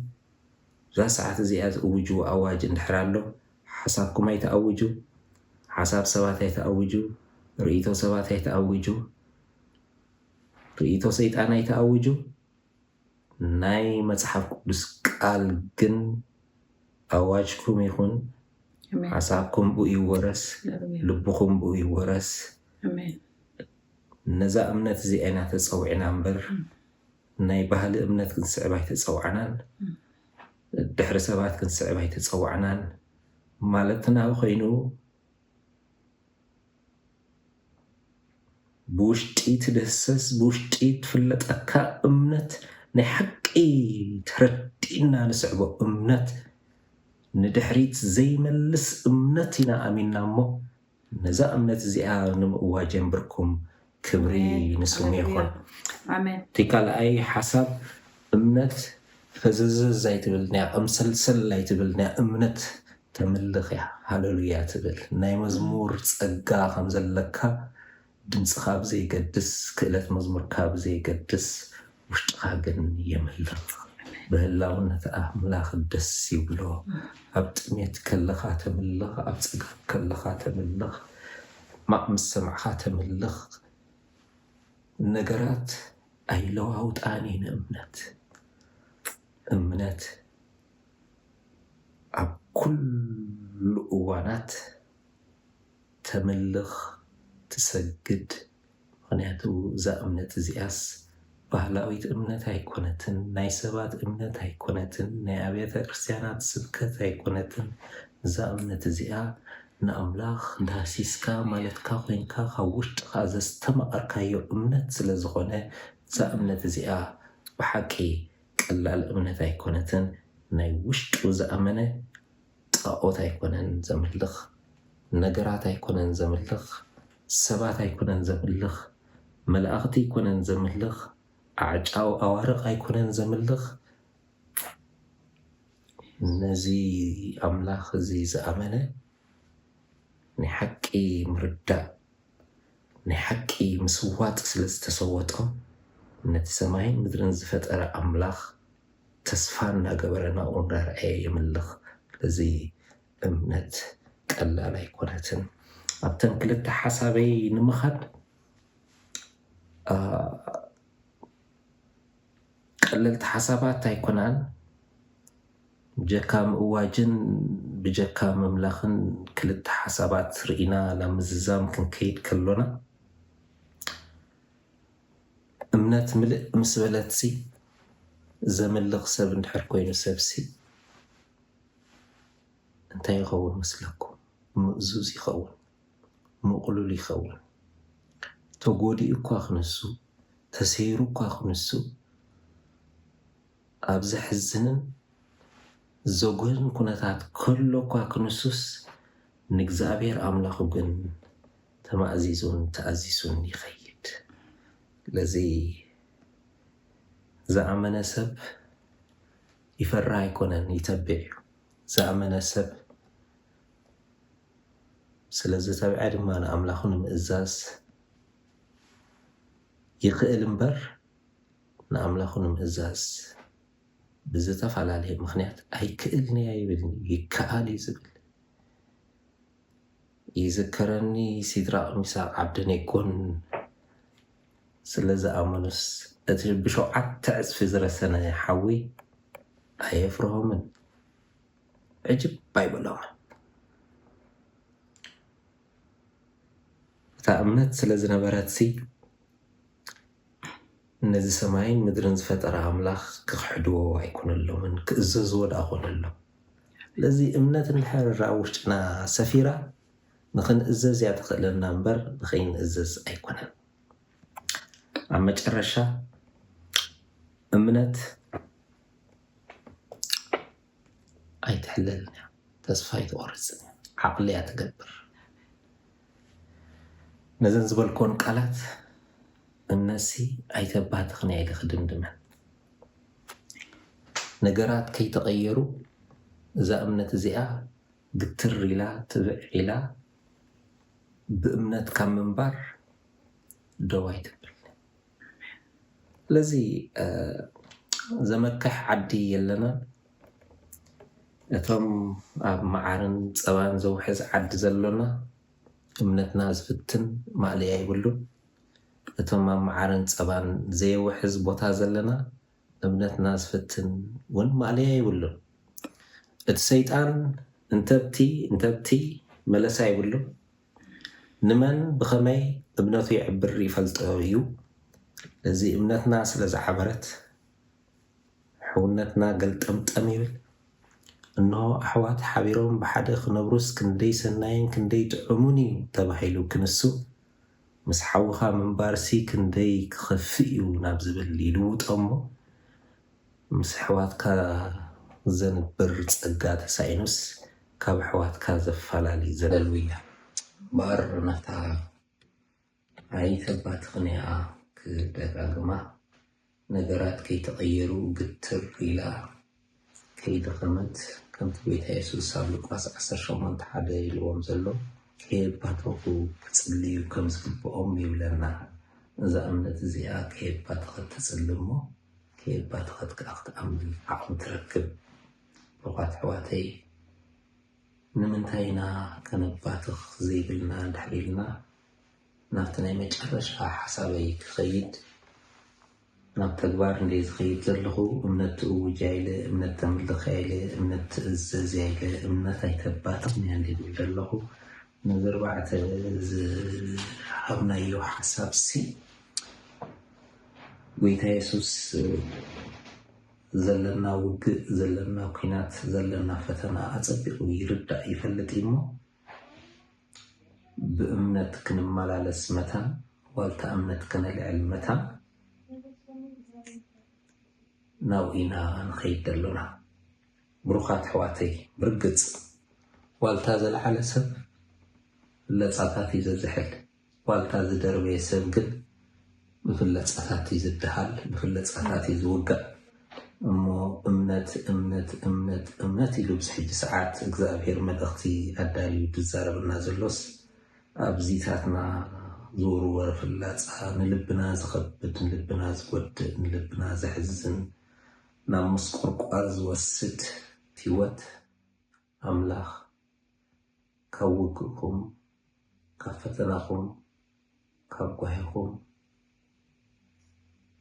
እዛ ሰዓት እዚኣ ዝእውጅዎ ኣዋጅ እንድሕር ኣሎ ሓሳብኩም ኣይትኣውጁ ሓሳብ ሰባት ኣይትኣውጁ ርእይቶ ሰባት ኣይትኣውጁ ርእይቶ ሰይጣን ኣይትኣውጁ ናይ መጽሓፍ ቅዱስ ቃል ግን ኣዋጅኩም ይኹን ሓሳብኩም ብኡ ይወረስ ልብኹም ብኡ ይወረስ ነዛ እምነት እዚኣ ኢና ተጸዊዕና እምበር ናይ ባህሊ እምነት ክንስዕብ ኣይተጸዋዕናን፣ ድሕሪ ሰባት ክንስዕብ ኣይተጸዋዕናን ማለትና ኮይኑ ብውሽጢ ትድህሰስ ብውሽጢ ትፍለጠካ እምነት ናይ ሓቂ ተረዲእና ንስዕቦ እምነት ንድሕሪት ዘይመልስ እምነት ኢና ኣሚንና እሞ ነዛ እምነት እዚኣ ንምእዋጅ የንብርኩም ክብሪ ንስሙ ይኹን። እቲ ካልኣይ ሓሳብ እምነት ፈዘዘዝ ኣይትብልን እያ ቅምስልስል ኣይትብልን እያ እምነት ተምልኽ እያ ሃለሉያ ትብል ናይ መዝሙር ጸጋ ከም ዘለካ ድምጽኻ ብዘይገድስ ክእለት መዝሙርካ ብዘይገድስ ውሽጥኻ ግን የምልኽ ብህላውነት ኣምላኽ ደስ ይብሎ ኣብ ጥሜት ከለኻ ተምልኽ ኣብ ጸገም ከለኻ ተምልኽ ሕማቕ ምስ ሰማዕካ ተምልኽ ነገራት ኣይለዋውጣን እየን እምነት እምነት ኣብ ኩሉ እዋናት ተምልኽ ትሰግድ ምኽንያቱ እዛ እምነት እዚኣስ ባህላዊት እምነት ኣይኮነትን ናይ ሰባት እምነት ኣይኮነትን ናይ ኣብያተ ክርስትያናት ስብከት ኣይኮነትን እዛ እምነት እዚኣ ንኣምላኽ ዳህሲስካ ማለትካ ኮይንካ ካብ ውሽጥኻ ዘስተማቐርካዮ እምነት ስለ ዝኾነ እዛ እምነት እዚኣ ብሓቂ ቀላል እምነት ኣይኮነትን ናይ ውሽጡ ዝኣመነ ጣኦት ኣይኮነን ዘምልኽ፣ ነገራት ኣይኮነን ዘምልኽ፣ ሰባት ኣይኮነን ዘምልኽ፣ መላእኽቲ ኣይኮነን ዘምልኽ፣ ኣዕጫው ኣዋርቕ ኣይኮነን ዘምልኽ፣ ነዚ ኣምላኽ እዚ ዝኣመነ ናይ ሓቂ ምርዳእ ናይ ሓቂ ምስዋጥ ስለ ዝተሰወጦ ነቲ ሰማይን ምድርን ዝፈጠረ ኣምላኽ ተስፋ እንዳገበረ ናብኡ እንዳረኣየ የምልኽ። ስለዚ እምነት ቀላል ኣይኮነትን። ኣብተን ክልተ ሓሳበይ ንምኻድ ቀለልቲ ሓሳባት ኣይኮናን። ብጀካ ምእዋጅን ብጀካ ምምላኽን ክልተ ሓሳባት ርኢና ናብ ምዝዛም ክንከይድ ከሎና እምነት ምልእ ምስ በለትሲ፣ ዘምልኽ ሰብ እንድሕር ኮይኑ ሰብሲ እንታይ ይኸውን መስለኩም? ምእዙዝ ይኸውን፣ ምቕሉል ይኸውን። ተጎዲኡኳ ክንሱ፣ ተሰይሩኳ ክንሱ፣ ኣብ ዘሕዝንን ዘጉህን ኩነታት ከሎ እኳ ክንሱስ፣ ንእግዚኣብሔር ኣምላኹ ግን ተማእዚዙን ተኣዚሱን ይኸይድ። ስለዚ ዝኣመነ ሰብ ይፈርህ ኣይኮነን ይተብዕ እዩ። ዝኣመነ ሰብ ስለ ዝተብዐ ድማ ንኣምላኹ ንምእዛዝ ይኽእል እምበር፣ ንኣምላኹ ንምእዛዝ ብዝተፈላለየ ምኽንያት ኣይክእልን'የ ኣይብልን'ዩ፣ ይከኣል'ዩ ዝብል። ይዝከረኒ ሲድራቅ ሚሳቅ ዓብደኔጎን ስለዝኣመኑስ እቲ ብሸውዓተ ዕጽፊ ዝረሰነ ሓዊ ኣየፍርሆምን ዕጅብ ኣይበሎምን። እታ እምነት ስለዝነበረትሲ ነዚ ሰማይን ምድርን ዝፈጠረ ኣምላኽ ክኽሕድዎ ኣይኮነሎምን፣ ክእዘዝዎ ደኣ ኮነሎም። ስለዚ እምነት እንድሕር ኣብ ውሽጥና ሰፊራ ንኽንእዘዝ እያ ተኽእለና እምበር ንኸይንእዘዝ ኣይኮነን። ኣብ መጨረሻ እምነት ኣይትሕለልን እያ ተስፋ ኣይትቆርጽን እያ ዓቅሊ እያ ትገብር ነዘን ዝበልክወን ቃላት እምነሲ ኣይተባህትኽን እያ ኢለ ክድምድመን ነገራት ከይተቀየሩ እዛ እምነት እዚኣ ግትር ኢላ ትብዕ ኢላ ብእምነት ካብ ምንባር ደው ኣይትብል ስለዚ ዘመክሕ ዓዲ የለናን ነቶም ኣብ መዓርን ጸባን ዘውሕዝ ዓዲ ዘሎና እምነትና ዝፍትን ማእለያ የብሉን ነቶም ኣብ መዓርን ጸባን ዘየውሕዝ ቦታ ዘለና እምነትና ዝፍትን ውን ማእለያ የብሉን እቲ ሰይጣን እንተብቲ እንተብቲ መለሳ የብሉን ንመን ብኸመይ እምነቱ የዕብር ይፈልጦ እዩ። እዚ እምነትና ስለ ዝዓበረት ሕውነትና ገልጠምጠም ይብል። እንሆ ኣሕዋት ሓቢሮም ብሓደ ክነብሩስ ክንደይ ሰናይን ክንደይ ጥዑሙን እዩ ተባሂሉ ክንሱ ምስ ሓውኻ ምንባርሲ ክንደይ ክኸፍእ እዩ ናብ ዝብል ይልውጦ እሞ ምስ ኣሕዋትካ ዘንብር ጸጋ ተሳኢኑስ ካብ ኣሕዋትካ ዘፋላሊ ዘለልውያ እምበኣር ናታ ኣይተባትኽንያ ክደጋግማ ነገራት ከይተቐየሩ ግትር ኢላ ከይደኸመት ከምቲ ጎይታ የሱስ ኣብ ሉቃስ ዓሰርተ ሸሞንተ ሓደ ኢልዎም ዘሎ ከየባተኹ ክጽልዩ ከም ዝግብኦም ይብለና እዛ እምነት እዚኣ ከየባተኸት ትጽሊ እሞ ከየባተኸት ከኣ ክትኣምን ዓቕሚ ትረክብ። ብሩኻት ኣሕዋተይ ንምንታይ ኢና ከነባትኽ ዘይብልና እንድሕር ኢልና ናብቲ ናይ መጨረሻ ሓሳበይ ክኸይድ ናብ ተግባር እንደ ዝኸይድ ዘለኹ እምነት ትእውጅ ኣይለ እምነት ተምልኽ ኣይለ እምነት ትእዘዝ ኣይለ እምነት ኣይተባትኽን እያ እንደ ዝብል ዘለኹ ነዚ ኣርባዕተ ዝሃብናዮ ሓሳብ ሲ ጎይታ የሱስ ዘለና ውግእ ዘለና ኩናት ዘለና ፈተና ኣጸቢቑ ይርዳእ ይፈልጥ እዩ እሞ ብእምነት ክንመላለስ መታን ዋልታ እምነት ከነልዕል መታን ናብኡ ኢና ንኸይድ ደሎና ብሩኻት ሕዋተይ ብርግጽ ዋልታ ዘልዓለ ሰብ ለጻታት እዩ ዘዝሕል ዋልታ ዝደርበየ ሰብ ግን ብፍለጻታት እዩ ዝደሃል፣ ብፍለጻታት እዩ ዝውጋእ። እሞ እምነት እምነት እምነት እምነት ኢሉ ኣብዚ ሕጂ ሰዓት እግዝኣብሄር መልእኽቲ ኣዳልዩ ድዛረበና ዘሎስ ኣብዚታትና ዝውርወር ፍላጻ ንልብና ዝኸብድ ንልብና ዝጎድእ ንልብና ዘሕዝን ናብ ምስቁርቋር ዝወስድ ቲወት ኣምላኽ ካብ ውግእኩም ካብ ፈተናኹም ካብ ጓሂኹም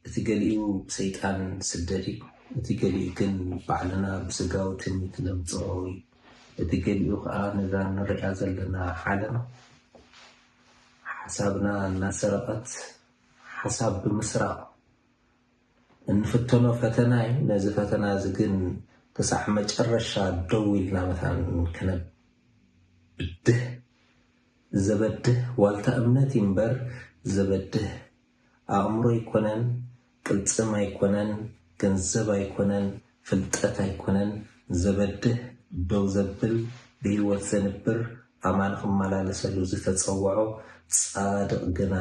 እቲ ገሊኡ ብሰይጣን ስደድ እዩ እቲ ገሊኡ ግን ባዕልና ብስጋዊ ትምኒት ነምጽኦ እዩ እቲ ገሊኡ ከኣ ነዛ ንርእያ ዘለና ዓለም ሓሳብና እናሰረቐት ሓሳብ ብምስራቕ እንፍተኖ ፈተና እዩ። ነዚ ፈተና እዚ ግን ክሳዕ መጨረሻ ደው ኢልና መታን ክነብ ብድህ ዘበድህ ዋልታ እምነት እዩ እምበር ዘበድህ ኣእምሮ ኣይኮነን ቅልጽም ኣይኮነን ገንዘብ ኣይኮነን ፍልጠት ኣይኮነን ዘበድህ ደው ዘብል ብህይወት ዘንብር ኣማን ክመላለሰሉ ዝተጸወዖ ጻድቕ ግና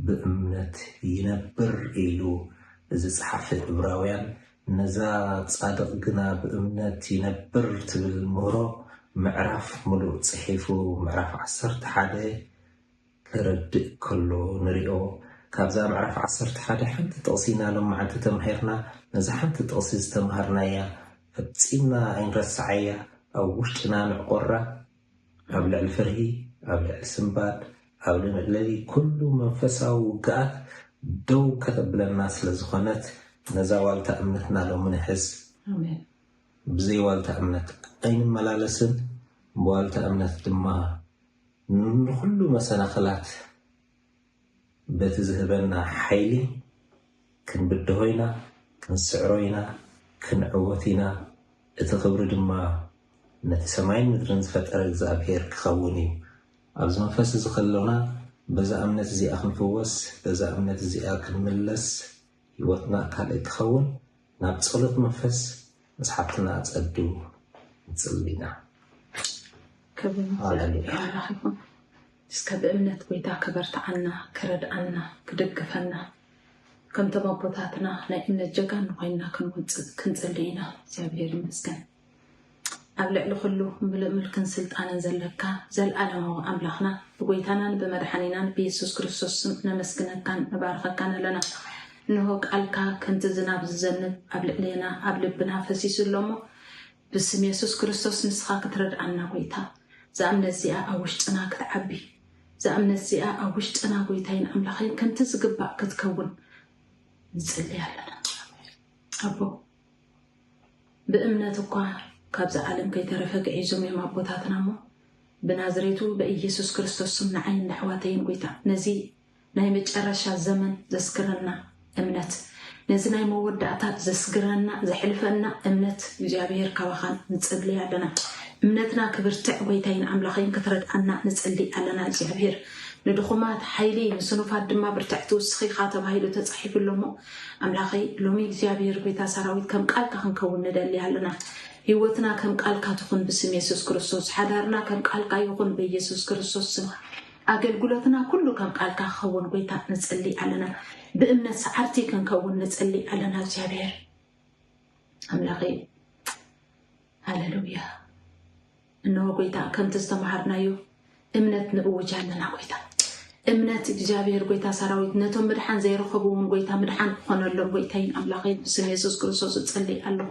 ብእምነት ይነብር ኢሉ ዝጸሓፈ ዕብራውያን፣ ነዛ ጻድቕ ግና ብእምነት ይነብር ትብል ምህሮ ምዕራፍ ምሉእ ጽሒፉ ምዕራፍ ዓሰርተ ሓደ ከረድእ ከሎ ንሪኦ። ካብዛ ምዕራፍ ዓሰርተ ሓደ ሓንቲ ጥቕሲ ኢና ሎማዕንቲ ተማሂርና። ነዛ ሓንቲ ጥቕሲ ዝተማሃርናያ ፈጺምና ኣይንረስዓያ፣ ኣብ ውሽጥና ንዕቆራ፣ ኣብ ልዕሊ ፍርሂ፣ ኣብ ልዕሊ ስንባድ፣ ኣብ ልዕሊ ኩሉ መንፈሳዊ ውግኣት ደው ከተብለና ስለ ዝኾነት ነዛ ዋልታ እምነትና ሎሚ ንሕዝ። ብዘይ ዋልታ እምነት ኣይንመላለስን፣ ብዋልታ እምነት ድማ ንኹሉ መሰናኽላት በቲ ዝህበና ሓይሊ ክንብድሆ ኢና፣ ክንስዕሮ ኢና፣ ክንዕወት ኢና፣ እቲ ክብሪ ድማ ነቲ ሰማይን ምድርን ዝፈጠረ እግዚኣብሄር ክኸውን እዩ። ኣብዚ መንፈስ እዚ ከሎና በዛ እምነት እዚኣ ክንፍወስ፣ በዛ እምነት እዚኣ ክንምለስ፣ ህይወትና ካልእ ክኸውን ናብ ጸሎት መንፈስ ምስ ሓብትና ኣጸዱ ንጽሊ ኢና። ክብሪ ንእግዚኣብሄር ኣምላኽ ይኹን። እስከ ብእምነት ጎይታ ከበርትዓና ከረድኣና ክድግፈና ከምቶም ኣቦታትና ናይ እምነት ጀጋኑ ኮይንና ክንወፅእ ክንፅሊ ኢና እግዚኣብሔር ይመስገን ኣብ ልዕሊ ኩሉ ምሉእ ምልክን ስልጣንን ዘለካ ዘለዓለማዊ ኣምላኽና ብጎይታናን ብመድሓኒናን ብየሱስ ክርስቶስ ስም ነመስግነካን ንባርኸካን ኣለና እንሆ ቃልካ ከምቲ ዝናብ ዝዘንብ ኣብ ልዕሌና ኣብ ልብና ፈሲሱ ኣሎ እሞ ብስም የሱስ ክርስቶስ ንስኻ ክትረድኣና ጎይታ እዛ እምነት እዚኣ ኣብ ውሽጥና ክትዓቢ እዛ እምነት እዚኣ ኣብ ውሽጥና ጎይታይን ኣምላኸይን ከምቲ ዝግባእ ክትከውን ንጽልይ ኣለና ኣቦ ብእምነት እኳ ካብዚ ዓለም ከይተረፈ ግዒዞም እዮም ኣቦታትና እሞ ብናዝሬቱ በኢየሱስ ክርስቶስ ስም ንዓይን ነሕዋተይን ጎይታ ነዚ ናይ መጨረሻ ዘመን ዘስግረና እምነት ነዚ ናይ መወዳእታ ዘስግረና ዘሕልፈና እምነት እግዚኣብሔር ካባኻ ንጽሊ ኣለና እምነትና ክብርትዕ ጎይታይን ኣምላኸይን ክትረድኣና ንጽሊ ኣለና እግዚኣብሔር ንድኹማት ሓይሊ ንስኑፋት ድማ ብርትዕ ትውስኺኻ ተባሂሉ ተጻሒፉ ኣሎ እሞ ኣምላኸይ ሎሚ እግዚኣብሔር ጎይታ ሰራዊት ከም ቃልካ ክንከውን ንደሊ ኣለና ህይወትና ከም ቃልካ ትኹን ብስም የሱስ ክርስቶስ ሓዳርና ከም ቃልካ ይኹን በየሱስ ክርስቶስ ስም ኣገልግሎትና ኩሉ ከም ቃልካ ክኸውን ጎይታ ንጽሊ ኣለና ብእምነት ሰዓርቲ ክንከውን ንጽሊ ኣለና እግዚኣብሔር ኣምላኸይ ሃሌሉያ እነሆ ጎይታ ከምቲ ዝተምሃርናዮ እምነት ንእውጅ ኣለና ጎይታ እምነት እግዚኣብሔር ጎይታ ሰራዊት ነቶም ምድሓን ዘይረኸቡ እውን ጎይታ ምድሓን ክኾነሎም ጎይታይን ኣምላኸይን ብስም የሱስ ክርስቶስ ዝጸልይ ኣለኹ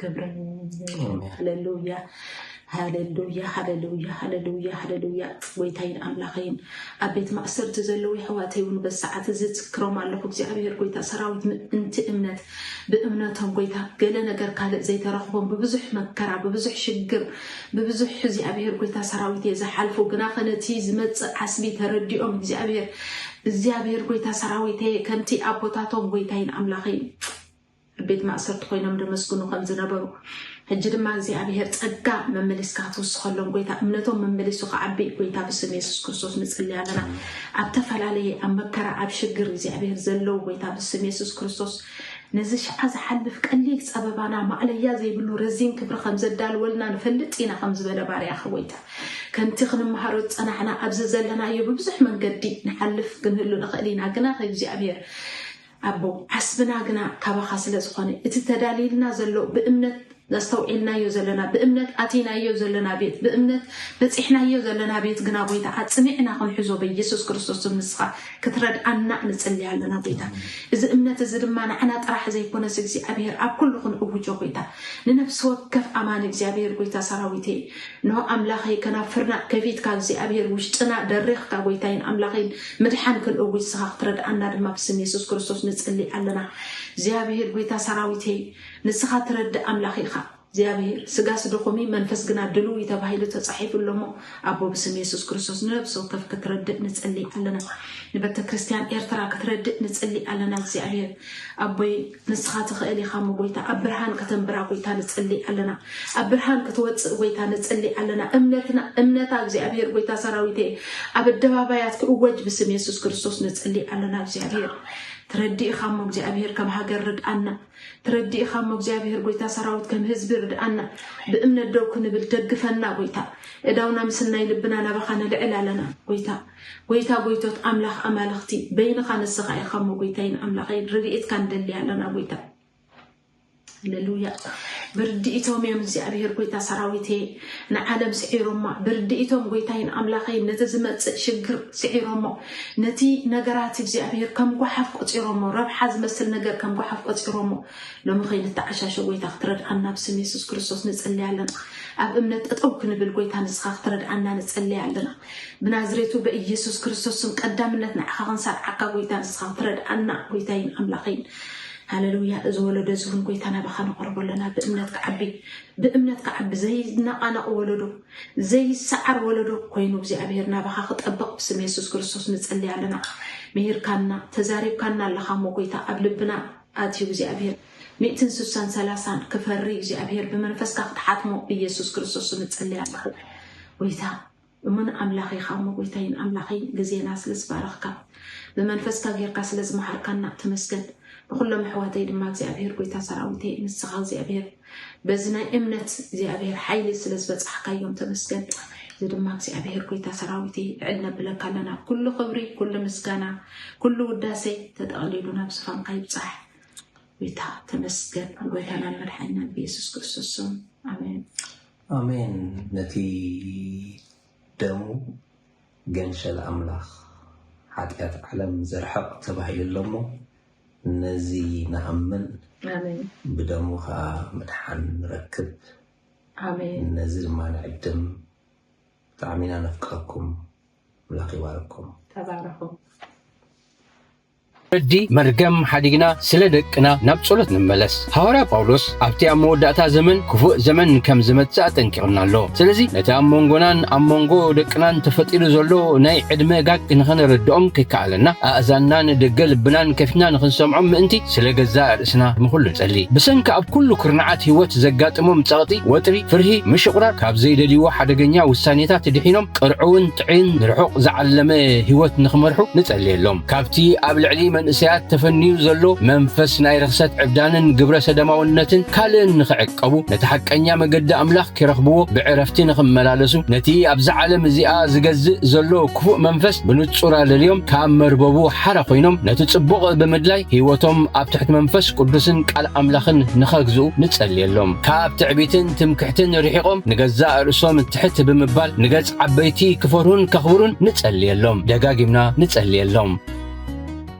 ክብረ ሃለሉያ ሃለሉያ ሃለሉያ ሃለሉያ ሃለሉያ ጎይታይን ኣምላኸይን ኣብ ቤት ማእሰርቲ ዘለዉ የሕዋተይ እውን በዚ ሰዓት እዚ ዝክሮም ኣለኹ እግዚኣብሄር ጎይታ ሰራዊት ምእንቲ እምነት ብእምነቶም ጎይታ ገለ ነገር ካልእ ዘይተረኽቦም ብብዙሕ መከራ ብብዙሕ ሽግር ብብዙሕ እግዚኣብሄር ጎይታ ሰራዊት እየ ዝሓልፉ ግና ከነቲ ዝመፅእ ዓስቢ ተረዲኦም እግዚኣብሄር እግዚኣብሄር ጎይታ ሰራዊት እየ ከምቲ ኣቦታቶም ጎይታይን ኣምላኸይን ኣብ ቤት ማእሰርቲ ኮይኖም ደመስግኑ ከም ዝነበሩ ሕጂ ድማ እግዚኣብሔር ጸጋ መመሊስካ ክትውስኸሎም ጎይታ እምነቶም መመሊሱ ክዓቢ ጎይታ ብስም የሱስ ክርስቶስ ንጽልይ ኣለና ኣብ ተፈላለየ ኣብ መከራ ኣብ ሽግር እግዚኣብሔር ዘለዉ ጎይታ ብስም የሱስ ክርስቶስ ነዚ ሸዓ ዝሓልፍ ቀሊል ጸበባና ማእለያ ዘይብሉ ረዚን ክብሪ ከም ዘዳልወልና ንፈልጥ ኢና ከም ዝበለ ባርያ ክወይታ ከምቲ ክንመሃሮ ዝጸናሕና ኣብዚ ዘለናዮ ብብዙሕ መንገዲ ንሓልፍ ክንህሉ ንኽእል ኢና ግና ከእግዚኣብሔር ኣቦ ዓስብና ግና ካባኻ ስለ ዝኾነ እቲ ተዳልይልና ዘሎ ብእምነት ኣስተውዒልናዮ ዘለና ብእምነት ኣቲናዮ ዘለና ቤት ብእምነት በጺሕናዮ ዘለና ቤት ግና ጎይታ ኣጽኒዕና ክንሕዞ በኢየሱስ ክርስቶስ ስም ንስኻ ክትረድኣና ንጽሊ ኣለና ጎይታ እዚ እምነት እዚ ድማ ንዓና ጥራሕ ዘይኮነስ እግዚኣብሔር ኣብ ኩሉ ክንእውጆ ጎይታ ንነፍሲ ወከፍ ኣማኒ እግዚኣብሔር ጎይታ ሰራዊት እየ እንሆ ኣምላኸይ ከናፍርና ከፊትካ እግዚኣብሄር ውሽጥና ደሪኽካ ጎይታይን ኣምላኸይን ምድሓን ክንእዊ ንስኻ ክትረድኣና ድማ ብስም የሱስ ክርስቶስ ንጽሊ ኣለና እግዚኣብሄር ጎይታ ሰራዊት ሄይ ንስኻ ትረድእ ኣምላኽ ኢኻ እግዚኣብሄር ስጋስ ድኹም እዩ መንፈስ ግና ድልው እዩ ተባሂሉ ተጻሒፉ ኣሎ እሞ ኣቦ ብስም የሱስ ክርስቶስ ንነብሲ ወከፍ ክትረድእ ንጽሊ ኣለና ንቤተ ክርስቲያን ኤርትራ ክትረድእ ንጽሊ ኣለና እግዚኣብሄር ኣቦይ ንስኻ ትኽእል ኢኻ እሞ ጎይታ ኣብ ብርሃን ከተንብራ ጎይታ ንጽሊ ኣለና ኣብ ብርሃን ክትወጽእ ጎይታ ንጽሊ ኣለና እምነትና እምነታ እግዚኣብሔር ጎይታ ሰራዊት እየ ኣብ ኣደባባያት ክእወጅ ብስም የሱስ ክርስቶስ ንጽሊ ኣለና እግዚኣብሔር ትረዲእኻ እሞ እግዚኣብሔር ከም ሃገር ርድኣና ትረዲእኻ እሞ እግዚኣብሔር ጎይታ ሰራዊት ከም ህዝቢ ርድኣና ብእምነት ደው ክንብል ደግፈና ጎይታ እዳውና ምስናይ ልብና ናባኻ ነልዕል ኣለና ጎይታ ጐይታ ጐይቶት ኣምላኽ ኣማልኽቲ በይንኻ ንስኻ ኢኻ እሞ ጐይታይን ኣምላኸይን ረድኤትካ ንደሊ ኣለና ጐይታ ሃለሉያ ብርድኢቶም እዮም እግዚኣብሔር ጐይታ ሰራዊት እየ ንዓለም ስዒሮማ ብርድኢቶም ጐይታይን ኣምላኸይን ነቲ ዝመፅእ ሽግር ስዒሮሞ ነቲ ነገራት እግዚኣብሔር ከም ጓሓፍ ቆፂሮሞ ረብሓ ዝመስል ነገር ከም ጓሓፍ ቆፂሮሞ ሎሚ ከይንተዓሻሸ ጐይታ ክትረድኣና ኣብ ስም የሱስ ክርስቶስ ንፅለያ ኣለና ኣብ እምነት ጠጠው ክንብል ጐይታ ንስኻ ክትረድኣና ንፅለያ ኣለና ብናዝሬቱ በኢየሱስ ክርስቶስ ስም ቀዳምነት ንዓኻ ክንሳብ ዓካ ጎይታ ንስኻ ክትረድኣና ጎይታይን ኣምላኸይን ሃለሉያ እዚ ወለዶ እዚ እውን ጎይታ ናባኻ ነቕርቦ ኣለና ብእምነት ክዓቢ ብእምነት ክዓቢ ዘይነቓነቕ ወለዶ ዘይሰዓር ወለዶ ኮይኑ እግዚኣብሔር ናባኻ ክጠብቕ ብስም የሱስ ክርስቶስ ንጸልይ ኣለና ምሂርካና ተዛሪብካና ኣለኻ እሞ ጎይታ ኣብ ልብና ኣትዩ እግዚኣብሔር ሚእትን ስሳን ሰላሳን ክፈሪ እግዚኣብሔር ብመንፈስካ ክትሓትሞ ብኢየሱስ ክርስቶስ ንጸልይ ኣለኹ ጎይታ እሙን ኣምላኽ ኢኻ እሞ ጎይታይን ኣምላኸይን ግዜና ስለ ዝባረኽካ ብመንፈስካ ጌርካ ስለ ዝመሃርካና ተመስገን ንኹሎም ኣሕዋተይ ድማ እግዚኣብሄር ጎይታ ሰራዊተይ ንስኻ እግዚኣብሄር በዚ ናይ እምነት እግዚኣብሄር ሓይሊ ስለ ዝበጻሕካዮም ተመስገን እዚ ድማ እግዚኣብሄር ጎይታ ሰራዊተይ ልዕል ነብለካ ኣለና ኩሉ ክብሪ ኩሉ ምስጋና ኩሉ ውዳሴ ተጠቕሊሉ ናብ ዝፋንካ ይብጻሕ ጎይታ ተመስገን ጎይታናን መድሓኒናን ብየሱስ ክርስቶስ ስም ኣሜን ኣሜን ነቲ ደሙ ገንሸል ኣምላኽ ሓጢኣት ዓለም ዘርሕቕ ተባሂሉ ኣሎ እሞ ነዚ ንኣምን ብደሙ ከኣ ምድሓን ንረክብ ነዚ ድማ ንዕድም ብጣዕሚ ኢና ነፍቅረኩም ኣምላኽ ይባርኩም። ተባረኹ። ፍርዲ መርገም ሓዲግና ስለ ደቅና ናብ ጸሎት ንመለስ። ሃዋርያ ጳውሎስ ኣብቲ ኣብ መወዳእታ ዘመን ክፉእ ዘመን ከም ዝመጽእ ኣጠንቂቑና ኣሎ። ስለዚ ነቲ ኣብ መንጎናን ኣብ መንጎ ደቅናን ተፈጢሩ ዘሎ ናይ ዕድመ ጋግ ንኸነረድኦም ከይከኣለና ኣእዛንናን ደገ ልብናን ከፊትና ንኽንሰምዖም ምእንቲ ስለ ገዛእ ርእስና ንኹሉ ንጸሊ። ብሰንኪ ኣብ ኩሉ ኩርናዓት ህይወት ዘጋጥሞም ጸቕጢ፣ ወጥሪ፣ ፍርሂ፣ ምሽቑራር፣ ካብ ዘይደልይዎ ሓደገኛ ውሳኔታት ድሒኖም ቅርዑውን ጥዕይን ንርሑቕ ዝዓለመ ህይወት ንኽመርሑ ንጸልየሎም። ካብቲ ኣብ ልዕሊ መንእሰያት ተፈንዩ ዘሎ መንፈስ ናይ ርኽሰት ዕብዳንን ግብረ ሰደማውነትን ካልእን ንኽዕቀቡ ነቲ ሓቀኛ መገዲ ኣምላኽ ኪረኽብዎ ብዕረፍቲ ንኽመላለሱ ነቲ ኣብዛ ዓለም እዚኣ ዝገዝእ ዘሎ ክፉእ መንፈስ ብንጹር ኣለልዮም ካብ መርበቡ ሓራ ኮይኖም ነቲ ጽቡቕ ብምድላይ ሕይወቶም ኣብ ትሕቲ መንፈስ ቅዱስን ቃል ኣምላኽን ንኸግዝኡ ንጸልየሎም ካብ ትዕቢትን ትምክሕትን ርሒቖም ንገዛእ ርእሶም ትሕት ብምባል ንገጽ ዓበይቲ ክፈርሁን ከኽብሩን ንጸልየሎም። ደጋጊምና ንጸልየሎም።